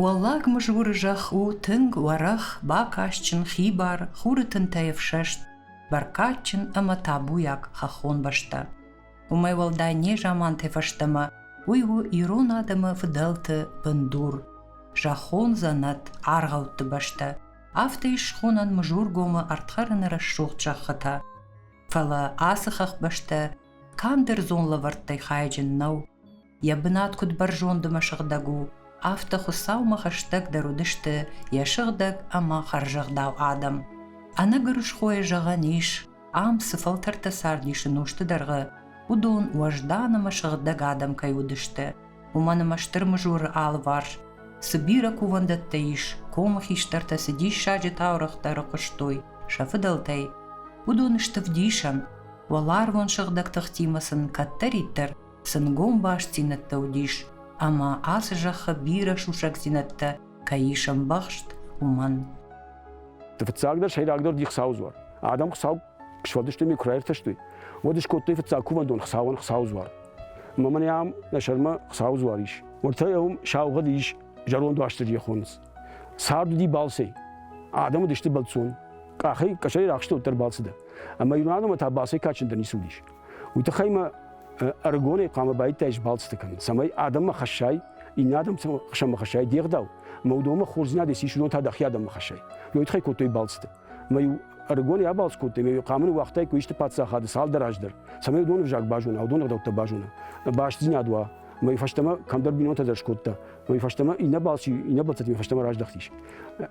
Уӕллаг Мызгуры зӕхх у тынг уӕрӕх, бакастджын, хибар, хуры тынтӕй ӕфсӕст, бӕркадджын ӕмӕ табуйаг хӕххон бӕстӕ. Уымӕй уӕлдай не заманты фӕстӕмӕ уый у ирон адӕмы фыдӕлты бындур, зӕххон дзӕнӕт, аргъӕутты бӕстӕ. Афтӕ ис схонӕн Мызургомы ӕрдхӕрыны рӕсугъд зӕххытӕ. Фӕлӕ ацы хӕхбӕстӕ канд ӕрдзон лӕвӕрттӕй хайджын нӕу. йӕ бынат куыд бӕрзонд ӕмӕ сыгъдӕг у, афтӕ Хуыцаумӕ хӕстӕгдӕр уыдысты йӕ сыгъдӕг ӕмӕ хӕрзӕгъдау адӕм. Ӕнӕгуырысхойӕ зӕгъӕн ис, ам цы фӕлтӕртӕ цардис ӕнусты дӕргъы, уыдон уӕздан ӕмӕ сыгъдӕг адӕм кӕй уыдысты, уымӕн ӕмӕ стыр мызуры алыварс цы бирӕ кувӕндӕттӕ ис, комы хистӕртӕ цы диссаджы таурӕгътӕ ӕрыхъуыстой сӕ фыдӕлтӕй, уыдон сты вдисӕн, уӕларвон сыгъдӕг тыхтимӕ сын кӕддӕриддӕр сӕнгом бастдзинӕдтӕ уыдис, ӕмӕ ацы зӕххы бирӕ сусӕгдзинӕдтӕ кӕй ис ӕмбӕхст, уымӕн. Фыццагдӕр, сӕйрагдӕр уыди Хуыцауы дзуар. Адӕм Хуыцау сфӕлдыстой мӕ куы раиртӕстой, уӕд скодтой фыццаг кувӕндон Хуыцауӕн Хуыцауы дзуар. Ӕмӕ мӕнӕ ам нӕ сӕрмӕ Хуыцауы дзуар ис. Уыртӕ уым саугъӕд ис зӕронд Уастырджийӕ хонынц. Цард уыди балцӕй. Адӕм уыдысты бӕлццон. Къахӕй, къӕсӕрӕй рахсты уӕддӕр балцы дӕр. Ӕмӕ ирон адӕммӕ та балцӕй кадджындӕр ницы уыдис. уый тыххӕй мӕ ӕрыгонӕй хъуамӕ баиттаис балцыты кӕнын, цӕмӕй адӕммӕ хӕссай, иннӕ адӕм сӕмӕ хӕссай де гъдау, ӕмӕ уыдонмӕ хорздзинад ис, ис уыдон та дӕхи адӕммӕ хӕссай. Уый тыххӕй кодтой балцыты. Мӕ-иу ӕрыгонӕй абалц кодтой, ӕмӕ-иу къамыны уагътаиккой исты паддзахады цалдӕр аз дӕр, цӕмӕй уыдоны взаг базона, уыдоны ӕгъдӕуттӕ базона, бастдзинад уа. Мӕ фӕстӕмӕ кӕмдӕр бинонтӕ дӕр скодта. Мӕ фӕстӕмӕ иннӕ балц иннӕ балцытимӕ фӕстӕмӕ раздӕхтис.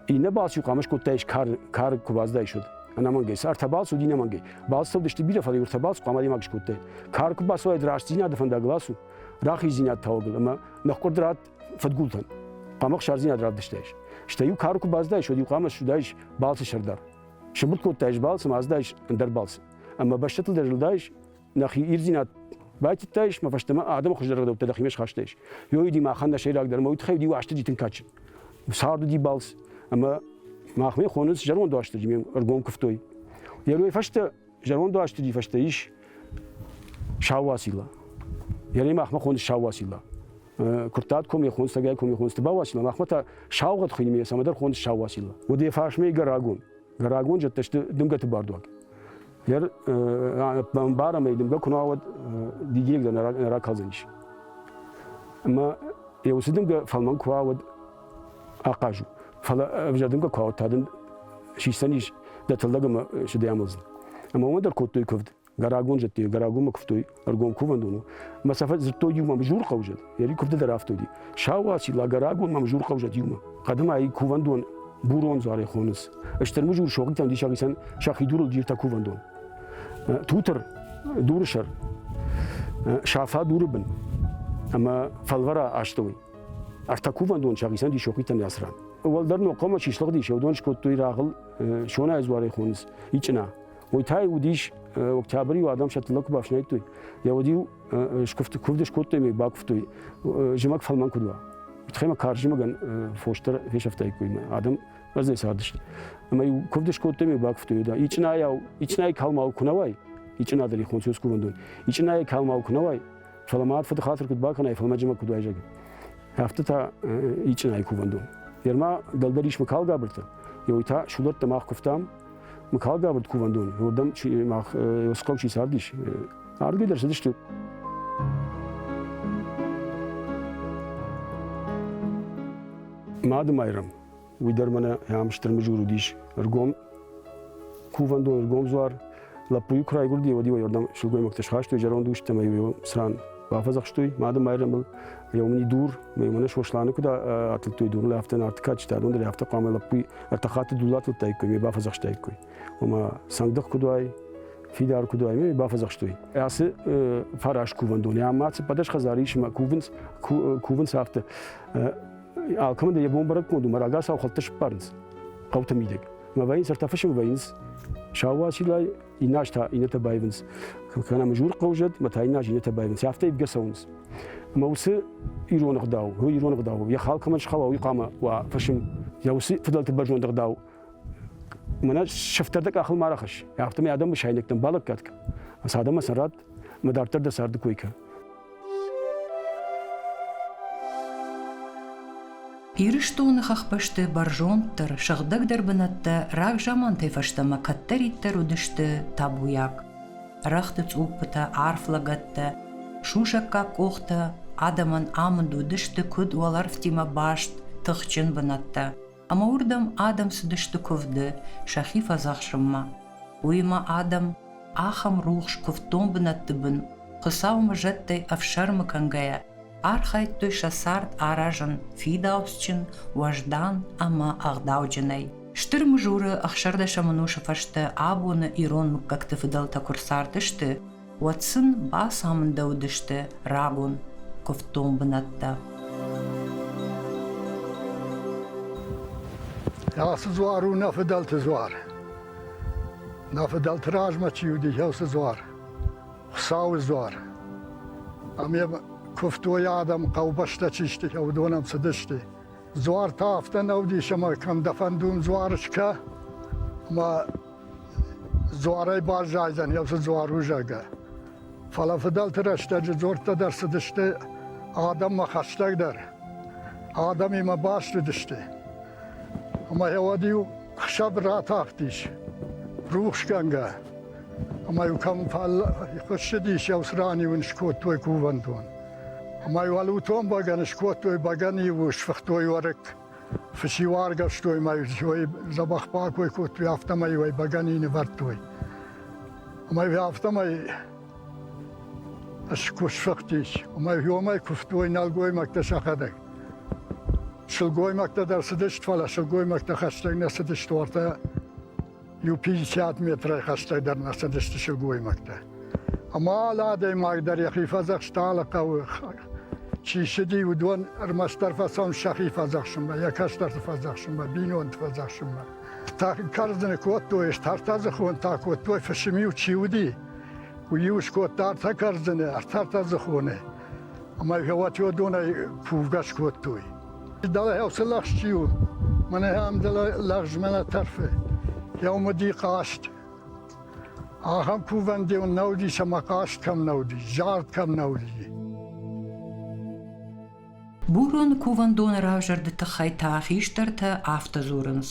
Иннӕ балц-иу хъуамӕ скодтаис кар, кар куы баздаис уӕд. Ӕнӕмӕнгӕй, ӕртӕ балц уыди нӕмӕнгӕй. Балцӕудысты бирӕ фӕлгуыртӕ бацу, хъуамӕ адӕймаг скодтай. Кар куы бацуаид рӕстдзинады фӕндаг ласу, рахиздзинад тауӕгыл ӕмӕ нӕхкъуырд радт фадгултӕн. Хъуамӕ хсардзинад равдыстаис. Стӕй-иу кары куы баздаис, уӕд-иу хъуамӕ суыдаис балцы сӕрдар. Сыбыртт кодтаис балц ӕмӕ аздаис ӕндӕр балцы. Ӕмӕ бӕстӕтыл дӕр зылдаис, нӕхи ирдзинад байтыдтаис, мӕ фӕстӕмӕ адӕмы хуыздӕр рӕдӕуттӕ дӕхимӕ схастаис. Ёйыди махӕн нӕ сӕйрагдӕр ӕмӕ уый тыххӕй уыди Уастырджи тынг кадджын. цард уыди балц, ӕмӕ махмӕ хоныц зӕронд уастырджи, ме ӕргом куывтой. Йе мной фӕстӕ зӕронд уастырджи фӕстӕ ис Сауасила. Йе мной махмӕ хоныц Сауасила. Куырттат комме хонц, тӕгӕй комме хонц, ты бауасила, махмӕ та саугъӕд хуыйны ме цӕмӕдӕр хоныц сауасила. Уыд йӕ фарсмӕ игӕрагон. Рагон зӕдтӕ сты дымгӕты бардуаг. Йер бамбарам ӕй дымгӕ куы науӕд дигирек дӕр нӕ ракалдзӕнис. Ӕмӕ йӕ уыцы дымгӕ фӕлмӕн куы ауӕд ахъаз у. Фӕлӕ ӕвзӕр дымгӕ куы ауад, та дын сисдзӕнис дӕ тыллӕг ӕмӕ сыдӕй амӕлдзӕн. Ӕмӕ уымӕ дӕр кодтой куывд. Гарагон зыдтой, Гарагомы куывтой ӕргом кувӕндоны. Мӕ сӕ зыдтой иумӕ мызурхъӕу зыд. Йӕ ри куывды дӕр афтӕ уыди. Сауасила, Гарагон мӕ мызурхъӕу зыд иумӕ. Хъӕдымӕ ӕй кувӕндон бурон дзуарӕй хонынц. Стыр мызур согъдитӕм диссаг исӕн сӕхи дурыл джиртӕ кувӕндон. Тутыр, дуры сӕр, сафа дуры бын ӕмӕ фӕлвӕра астӕуй. Ӕртӕ кувӕндон сӕхицӕн ди сохъитӕн ясран. Уӕлдӕр нохъомӕ чи слыгъди, се удон скодтой рагъыл сонайы дзуарӕй хонынц ичъына. Уый та уыдис октябры-иу адӕм сӕ тыллӕг куы бафснайдтой, йӕ уыд-иу скуывд скуывдӕй мӕй бакуывтой, зымӕг фӕлмӕн куыд уа. Тхӕй мӕ карз зымӕгӕн фостӕр фесӕфтаиккой мӕ адӕм бӕрзӕй цардысты. Ӕмӕ-иу куывд скодтой мӕй бакуывтой да. Ичъынайау, ичъынайы калмау куы нӕ уай, ичъына дӕр хонцу скувӕндон, ичъынайы калмау куы нӕ уай, фӕлӕ ма фыды хатыр куыд бакӕнай, фӕлӕ мӕджымӕ куыд уай, зӕгъы. Афтӕ та ичъынайы кувӕндон. Ерма дӕлдӕр ис мӕ калгабыртӕ, ёй та шудӕттӕ мах куывтам, Мыкалгабыд кувӕндон, уырдӕм мах Ёском чи цардис, ардгӕй дӕр цыдысты. Мады Майрӕм, уый дӕр мӕнӕ ам стыр мызур уыдис, ӕргом кувӕндон, ӕргом дзуар, лӕппуйы куы райгуырди, уӕд-иу ӕй уырдӕм сылгоймӕгтӕ схастой зӕронд ус ӕмӕ-иу цран Бафӕдзӕхстой Мады Майрӕмыл еумини дур, еумӕ Сосланы куд атылдтой донлӕ, афтӕ Нартикка чи адон дӕр, афтӕ хъуамӕ лӕппуи ӕртӕ хатти дул атылдтаиккой, ме бафӕдзахстаиккой. Ома сӕндых куд уай, фидар куд уай, ме бафӕдзахстой. Ацы фарас кувӕндони ӕма циппӕдӕс хӕдзари исмӕ кувынц, кувынц афтӕ. Алкӕмӕн дӕр йӕ бон бӕрӕггонд у, мӕ рагацау хӕлттӕ сыппарынц хъӕуты мидӕг. Мӕ вӕййынц, ӕртӕ фысы мӕ вӕййынц. Сау уацилӕй Иннӕ аз та иннӕтӕ байвынц. Куы кӕнӕм жур хъӕузӕд, мӕ та иннӕ аз иннӕтӕ байвынц. Афтӕ ивгӕ цӕуынц. Ӕмӕ уыцы ирон ӕгъдау, уый ирон ӕгъдау, йӕ хал кӕмӕн схауа, уый хъуамӕ уа фысым. Йӕ уыцы фыдӕлты бӕрзонд ӕгъдау мӕнӕ сыфтӕрдӕг къахыл ма рахӕсс. Афтӕ мӕ адӕмы сайнӕгтӕм балӕггад кӕн. Ӕмӕ сӕ адӕммӕ сын радт Ӕмӕ дарддӕр дӕ царды кой кӕн. Ирыстоны хӕхбӕсты бӕрзонддӕр, сыгъдӕгдӕр бынӕттӕ рагзамантӕй фӕстӕмӕ кӕддӕриддӕр уыдысты табуйаг. Рӕгъты цъуппытӕ, арф лӕгӕттӕ, сусӕггаг къохтӕ адӕмӕн амынд уыдысты куыд уӕлӕрвтимӕ баст тыхджын бынӕттӕ, ӕмӕ уырдӕм адӕм цыдысты куывды сӕхи фӕдзӕхсынмӕ. Уыимӕ адӕм ахӕм рухс куывддон бынӕтты бын, Хуыцаумӕ зӕдтӕй ӕфсӕрмы кӕнгӕйӕ, архайдтой сӕ цард аразын фидауцджын, уӕздан ӕмӕ ӕгъдауджынӕй. Стыр Мызуры ӕхсӕрдӕсӕмӕносы фӕстӕ абоны ирон мыггӕгты фыдӕлтӕ куы рцардысты, уӕд сын бацамындӕуыдысты рагон куывддон бынӕттӕ. Ацы дзуар у нӕ фыдӕлты дзуар. Нӕ фыдӕлты размӕ чи уыди, уыцы дзуар. Хуыцауы дзуар. Ам йӕ куывтой адӕм, хъӕубӕстӕ чи сты, уыдон ӕм цыдысты. Дзуар та афтӕ нӕ уыдис, ӕмӕ кӕм дӕ фӕндон дзуар скӕ, ӕмӕ дзуарӕй баззайдзӕн йӕ уыцы дзуарузӕгӕ. Фӕлӕ фыдӕлты рӕстӕджы дзорттӕ дӕр цыдысты адӕммӕ хӕстӕгдӕр. Адӕмимӕ баст уыдысты. Ӕмӕ йӕ уӕд-иу хсӕв ратахтис рухсгӕнгӕ. Ӕмӕ-иу кӕм фӕл... хуыссыдис, йӕ ус ран-иу ын скодтой кувӕндон. Ӕмӕ уал уытон бӕгӕны скодтой, бӕгӕны-иу сфыхтой уӕрыкк, фыси уаргӕвстой мӕ ой дзӕбӕх пакой кодтой, афтӕмӕй уӕ бӕгӕни нывӕрдтой. Ӕмӕ афтӕмӕй куы сфыхтис, ӕмӕ иомӕй куывтой нӕлгоймӕгтӕ сӕхӕдӕг. Сылгоймӕгтӕ дӕр цыдысты, фӕлӕ сылгоймӕгтӕ хӕстӕг нӕ цыдысты уартӕ иу 50 метрӕй хӕстӕгдӕр нӕ цыдысты сылгоймӕгтӕ. Ӕмӕ алы адӕймаг дӕр йӕхи фӕдзӕхста алы хъӕуы чи ссыди, уыдон ӕрмӕстдӕр фӕцӕуын сӕхи фӕдзӕхсынмӕ, йӕ кӕстӕрты фӕдзӕхсынмӕ, бинонты фӕдзӕхсынмӕ. Та кӕрдзыны кодтой, ӕртӕртӕ дзыхонтӕ кодтой, фысым-иу чи уыди, уый-иу скодта ӕртӕ кӕрдзыны, ӕртӕртӕ дзыхоны. Ӕма гъӕуатиуӕдонӕй фувгас кодтой. Дӕле гьӕуцӕ лӕгъз чи у, мӕнӕ ам дӕле лӕгъз мӕнӕ тӕрфе. Гьӕумӕ ди хъаст. Ахӕм кувӕн деу нӕ уди, сӕмӕ хъаст кӕм нӕ уди, зард кӕм нӕ уди. Бурон кувӕндоны равзӕрды тыххӕй та хистӕртӕ афтӕ дзурынц.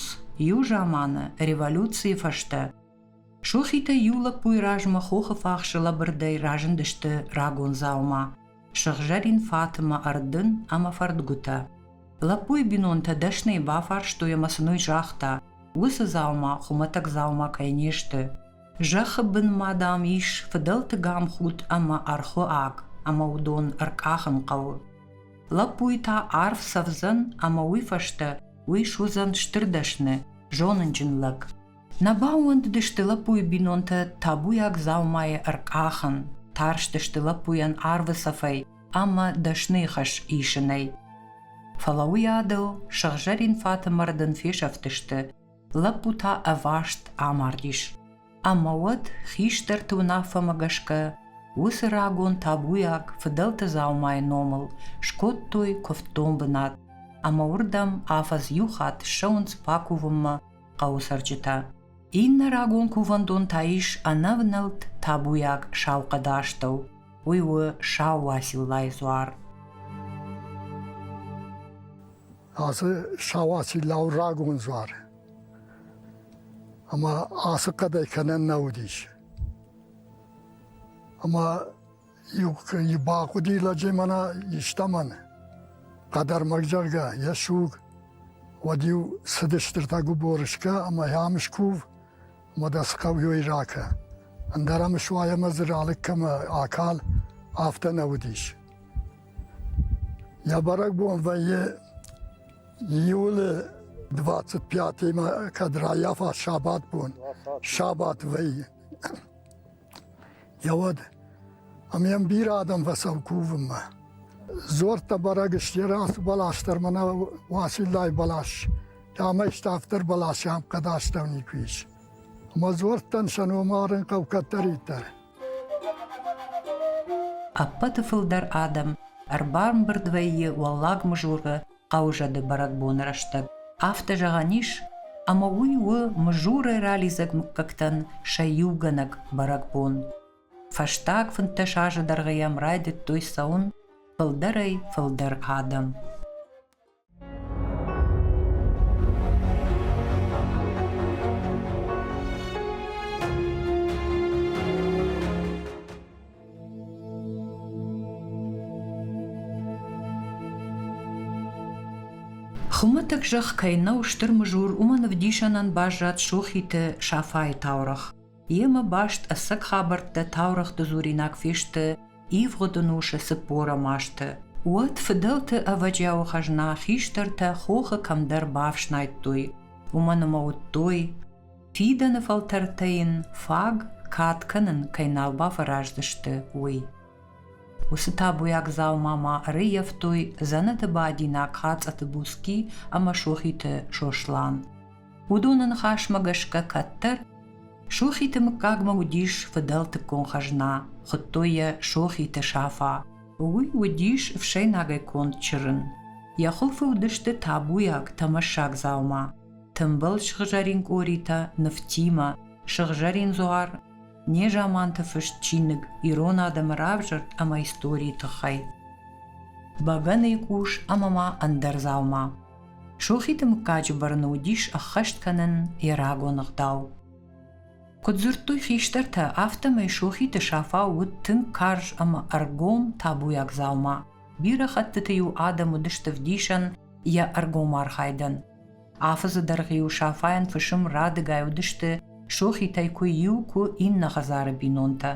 Иу заманы, революцийы фӕстӕ, Сохитӕй иу лӕппуйы размӕ хохы фахсы лӕбырдӕй разындысты рагон дзаума, сыгъзӕрин фатымӕ ӕрдын ӕмӕ фӕрдгуытӕ. Лӕппуйы бинонтӕ дӕсныйы бафарстой ӕмӕ сын уый загъта, уыцы дзаума хуымӕтӕг дзаума кӕй не сты. Зӕххы бынмӕ, дам, ис фыдӕлты гамхуд ӕмӕ ӕрхуы аг, ӕмӕ уыдон ӕркъахын хъӕуы. Лӕппуйы та арв цӕвдзӕн ӕмӕ уый фӕстӕ уый суыдзӕн стыр дӕсны, зонынджын лӕг. Нӕ баууӕндыдысты лӕппуйы бинонтӕ табуйаг дзаумайы ӕркъахын, тарстысты лӕппуйӕн арвы цӕфӕй ӕмӕ дӕсны хӕс исынӕй. Фӕлӕ уый адыл сыгъзӕрин фатымӕрд ын фесӕфтысты, лӕппу та ӕваст амардис. Ӕмӕ уӕд хистӕрты уынаффӕмӕ гӕсгӕ уыцы рагон табуйаг фыдӕлты дзаумайы номыл скодтой куывддон бынат ӕмӕ уырдӕм афӕдз иу хатт ссӕуынц бакувынмӕ хъӕуы цӕрджытӕ. Иннӕ рагон кувӕндон та ис ӕнӕвнӕлд табуйаг Саухъӕды астӕу, уый у Сау Уациллайы дзуар. Ацы Сау Уацилла у рагон дзуар. Ӕмӕ ацы хъӕдӕй кӕнӕн нӕ уыдис. Ӕмӕ Иу бахъуди лӕджи мӕнӕ истӕмӕн, хъӕдӕрмӕг, зӕгъгӕ, йе суг. Уӕд-иу цыдыстыртӕ губорышкӕ ӕмӕ Ӕмскув Модасхъӕуйой ракӕ. Ӕндӕр ӕмсуайӕмӕ дзы ралыг кӕмӕ акал, афтӕ нӕ уыдис. Йӕ бӕрӕгбон вӕййы июлы 25-имӕ, кӕд раййафа сабатбон, сабат вӕййы. Йӕ уӕд ӕм йӕм бирӕ адӕм фӕцӕуы кувынмӕ. Дзуӕрттӕ бӕрӕг сты, йӕ рацу бӕлас дӕр мӕнӕ Уасиллайы бӕлас, ӕмӕ ставддӕр бӕлас йӕм хъӕд астӕу никуы ис. Ӕмӕ дзуӕрттӕн сӕ ном арын хъӕуы кӕддӕриддӕр. Ӕппӕты фылдӕр адӕм ӕрбамбырд вӕййы Уӕллаг Мызуры хъӕузӕды бӕрӕгбоны рӕстӕг. Афтӕ зӕгъӕн ис, ӕмӕ уый у Мызурӕй ралидзӕг мыггӕгтӕн сӕ иугӕнӕг бӕрӕгбон. Фӕстаг фынддӕс азы дӕргъы йӕм райдыдтой цӕуын фылдӕрӕй фылдӕр адӕм. Хуымӕтӕг зӕхх кӕй нӕу стыр мызур, уымӕн ӕвдисӕнӕн баззад Сохиты Сафайы таурӕгъ. Йемӕ баст ӕцӕг хабӕрттӕ таурӕгъты дзуринаг фесты ивгъуыд ӕнусы цыппорӕм азты. Уӕд фыдӕлты ӕвӕджиауы хӕзна хистӕртӕ хохы кӕмдӕр бафснайдтой, уымӕн ӕмӕ уыдтой, фидӕны фӕлтӕртӕ йын фаг кад кӕнын кӕй нал бафӕраздзысты, уый. Уыцы табуйаг дзаума ма ӕрыййӕфтой дзӕнӕты бадинаг Хацъаты Буски ӕмӕ Сохиты Сослан. Уыдоны ныхасмӕ гӕсгӕ кӕддӕр Сохиты мыггагмӕ уыдис фыдӕлтыккон хӕзна, хуыдтой йӕ Сохиты Сафа. Уый уыдис ӕфсӕйнагӕй конд чырын. Йӕ хуылфы уыдысты табуйаг, тӕмӕссаг дзаума. тымбыл сыгъзӕрин къоритӕ нывтимӕ, сыгъзӕрин дзуар, незаманты фыст чиныг ирон адӕмы равзӕрд ӕмӕ историйы тыххӕй. Бӕгӕныйы къус ӕмӕ ма ӕндӕр дзаума. Сохиты мыггаджы бырны уыдис ӕххӕст кӕнын йӕ рагон ӕгъдау. Куыд дзырдтой хистӕртӕ, афтӕмӕй Сохиты Сафа уыд тынг карз ӕмӕ ӕргом табуйаг дзаума. Бирӕ хӕттыты-иу адӕм уыдысты вдисӕн йӕ ӕргом архайдӕн, Афӕдзы дӕргъы-иу Сафайӕн фысым радыгай уыдысты, сохитӕй куы иу, куы иннӕ хӕдзары бинонтӕ.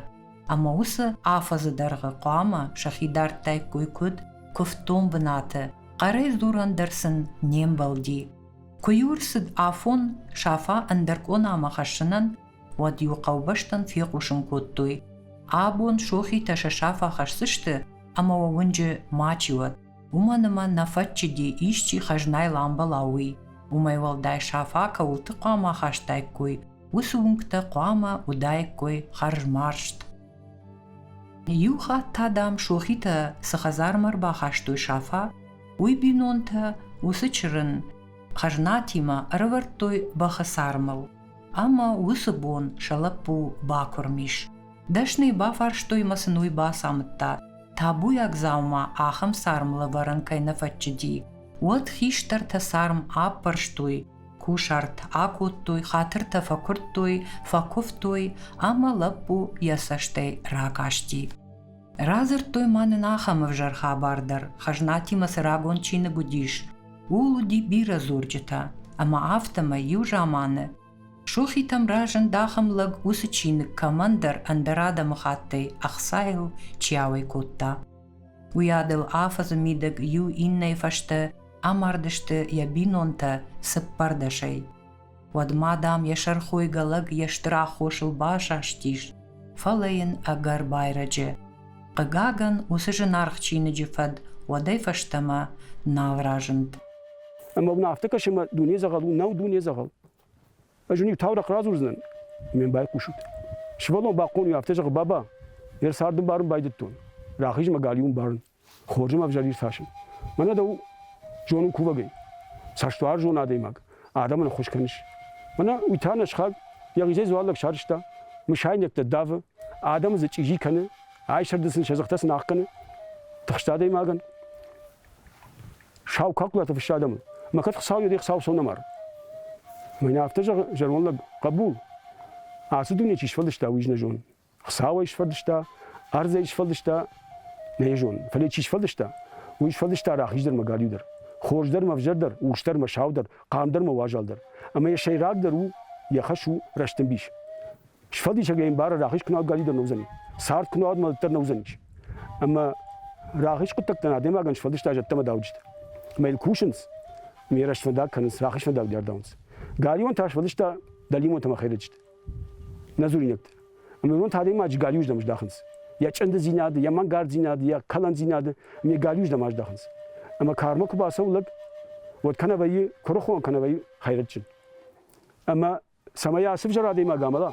Ӕмӕ уыцы афӕдзы дӕргъы хъуамӕ сӕхи дардтаиккой куыд куывддон бынаты, хъӕрӕй дзурӕн дӕр сын не мбӕлди. Куы-иу рцыд афон Сафа ӕндӕр къонамӕ хӕссынӕн, уӕд-иу хъӕубӕстӕн фехъусын кодтой, абон сохитӕ сӕ сафа хӕсдзысты, ӕмӕ уӕ уынджы мачи уӕд. уымӕн ӕмӕ нӕ фӕччыди, исчи хӕзнайыл амбӕла, уый. Уымӕй уӕлдай сафа кӕуылты хъуамӕ ахастаиккой, уыцы уынгтӕ хъуамӕ уыдаиккой хӕрзмарзт. Иу хатт та, дам, сохитӕ цы хӕдзармӕ ӕрбахастой сафа, уый бинонтӕ уыцы чырын хӕзнатимӕ ӕрӕвӕрдтой бӕхы цармыл. Ӕмӕ уыцы бон сӕ лӕппу бакуырм ис. Дӕсныйы бафарстой мӕ сын уый бацамыдта, табуйаг дзаума ахӕм царм лӕвӕрын кӕй нӕ фӕччыди. Уӕд хистӕртӕ царм аппӕрстой, кусарт акодтой, хатыртӕ фӕкуырдтой, фӕкуывтой ӕмӕ лӕппу йӕ цӕстӕй ракасти. Радзырдтой ма нын ахӕм ӕвзӕр хабар дӕр, хӕзнатимӕ цы рагон чиныг уыдис, ууыл уыди бирӕ дзурджытӕ, ӕмӕ афтӕмӕй иу заманы Сухитӕм разынд ахӕм лӕг, уыцы чиныг кӕмӕндӕр ӕндӕр адӕмыхаттӕй ӕхцайыл чи ауӕй кодта. Уый адыл афӕдзы мидӕг иу иннӕйы фӕстӕ амардысты йӕ бинонтӕ цыппӕрдӕсӕй. Уӕдмӕ, дам, йӕ сӕрхойгӕ лӕг йе стыр аххосыл басастис, фӕлӕ йын ӕгӕр байрӕджы. Хъыгагӕн, уыцы зынаргъ чиныджы фӕд уӕдӕй фӕстӕмӕ нал разынд. Ӕмӕ мын афтӕ кӕс, ӕмӕ дуне дзӕгъӕл у. Нау дуне дзӕгъӕл. Ӕз уын иу таурӕхъ радзурдзынӕн. Ме байхъусут. Сывӕллон бахъон у, афтӕ зӕгъы, баба, ме рцарды барын байдыдтон. Рахиз мӕ галиуын барын. хорзем ӕвзӕрдир тасун. Мӕнӕ дӕу зонун кувӕгӕй. Цӕстуарзон адӕймаг, адӕмӕн ӕххуыс кӕнис. Мӕнӕ уый та нӕ схаг йӕхицӕй дзуаллаг сарызта, мысайнӕгтӕ давы, адӕмы дзы чъизи кӕны, айсӕрды сын сӕ дзыхтӕ сын ахгӕны. Тыхст адӕймагӕн. Сау калкулаты фыссы адӕмыл. Мӕ кӕд Хуыцау йӕ де хцауцон ӕмар. Мӕнӕ афтӕ зӕгъы зӕронд лӕг, хъӕбул, ацы дуне чи сфӕлдыста, уый нӕ зонын. Хуыцау ӕй сфӕлдыста, ӕрдз ӕй сфӕлдыста, нӕ йӕ зонын, фӕлӕ чи сфӕлдыста, уый сфӕлдыста рахиз дӕр мӕ галиу дӕр, хорз дӕр мӕ ӕвзӕр дӕр, урс дӕр мӕ сау дӕр, хъам дӕр мӕ уазал дӕр. Ӕмӕ йӕ сӕйрагдӕр у, йӕ хӕс у рӕстӕмбис. Сфӕлдисӕгӕй ӕмбары, рахиз куы науӕд галиу дӕр не уыдзӕни, цард куы науӕд мӕлӕт дӕр нӕ уыдзӕнис. Ӕмӕ рахиз хъуыддӕгтӕн адӕймагӕн сфӕлдыста зӕдтӕ ӕмӕ дауджытӕ. Ӕмӕ йыл кусынц, ӕмӕ йӕ рӕст фӕндаг кӕнынц, рахиз фӕндаг дӕр дарынц. Галиуан та сфӕлдыста дӕлимонтӕ ӕмӕ хӕйрӕджытӕ. Нӕ дзуринӕгтӕ. Ӕмӕ уыдон та адӕймаджы галиуырдӕм здахынц. Йӕ чъындыдзинады, йӕ мӕнгарддзинады, йӕ кӕлӕндзинады ме галиуырдӕм аздахынц. Ӕмӕ кармӕ куы бацӕуы лӕг, уӕд кӕнӕ вӕййы куырыхон, кӕнӕ вӕййы хӕйрӕджджын. Ӕмӕ цӕмӕй ацы взӕр адӕймаг амӕла,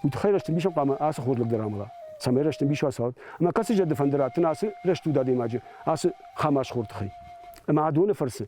уый тыххӕй рӕстӕмбисӕн хъуамӕ ацы хорз лӕг дӕр амӕла, цӕмӕй рӕстӕмбис уа цауӕт. Ӕмӕ кӕцы зӕды фӕнды раттын ацы рӕстуд адӕймаджы, ацы хамасхор тыххӕй? Ӕмӕ адоны фӕрцы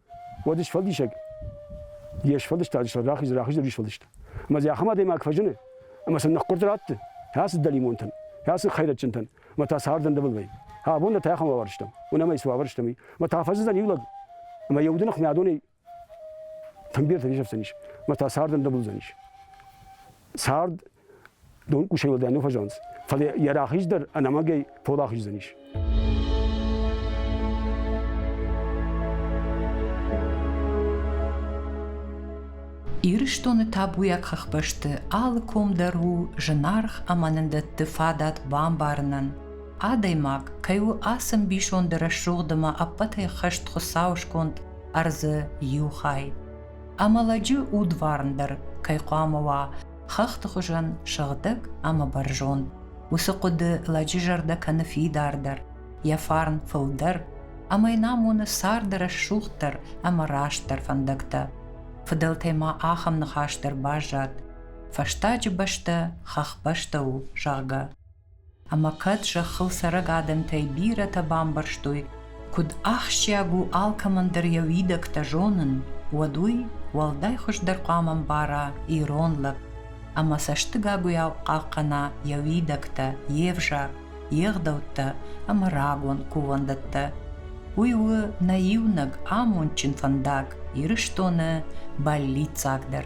уӕд сфӕлдисӕг йе сфӕлдыстаджы сӕр рахиз рахиздӕр исфӕлдыста ӕмӕ дзы ахӕм адӕймаг фӕзыны ӕмӕ сын ныхкъуырд ратты ацы дӕлимонтӕн ацы хӕйрӕджынтӕн ӕмӕ та цардӕн дывыл вӕййы абон нӕ та ахӕм уавӕр стӕм уынӕм ӕй цы уавӕр стӕм и ӕмӕ та фӕзыдзӕн иу лӕг ӕмӕ йӕ уды ныхмӕ адонӕй тӕмбертӕ нисӕфдзӕнис ӕмӕ та цардӕн дывылдзӕнис цард дон къусӕй уӕлдай нӕ фӕзӕнц, фӕлӕ йӕ рахиз дӕр ӕнӕмӕгӕй пол ахиздзӕнис. Ирыстоны табуйаг хӕхбӕсты алы ком дӕр у зынаргъ ӕмӕ нын дӕтты фадат бамбарынӕн, адӕймаг кӕй у ацы мбисонды рӕсугъд ӕмӕ ӕппӕтӕй хӕст Хуыцауы сконд ӕрдзы иу хай. Амӕлӕджы удварн дӕр кӕй хъуамӕ уа хӕхты хуызӕн сыгъдӕг ӕмӕ бӕрзонд. Уыцы хъуыды лӕджы зӕрдӕ кӕны фидардӕр, йӕ фарн фылдӕр, ӕмӕ йын амоны царды рӕсугъддӕр ӕмӕ растдӕр фӕндӕгтӕ. Фыдӕлтӕй ма ахӕм ныхас дӕр баззад, фӕстаджы бӕстӕ хӕхбӕстӕ у, зӕгъгӕ. Ӕмӕ кӕд зӕххыл цӕрӕг адӕмтӕй бирӕтӕ бамбӕрстой, куыд ахсджиаг у алкӕмӕндӕр йӕ уидӕгтӕ зонын, уӕд уый уӕлдай хуыздӕр хъуамӕ ӕмбара ирон лӕг ӕмӕ цӕстыгагуыйау хъахъхъӕна йӕ уидӕгтӕ, йе взаг, йе гъдӕуттӕ ӕмӕ рагон кувӕндӕттӕ. Уый у нӕ иунӕг амондджын фӕндаг Ирыстоны бӕллиццагдӕр.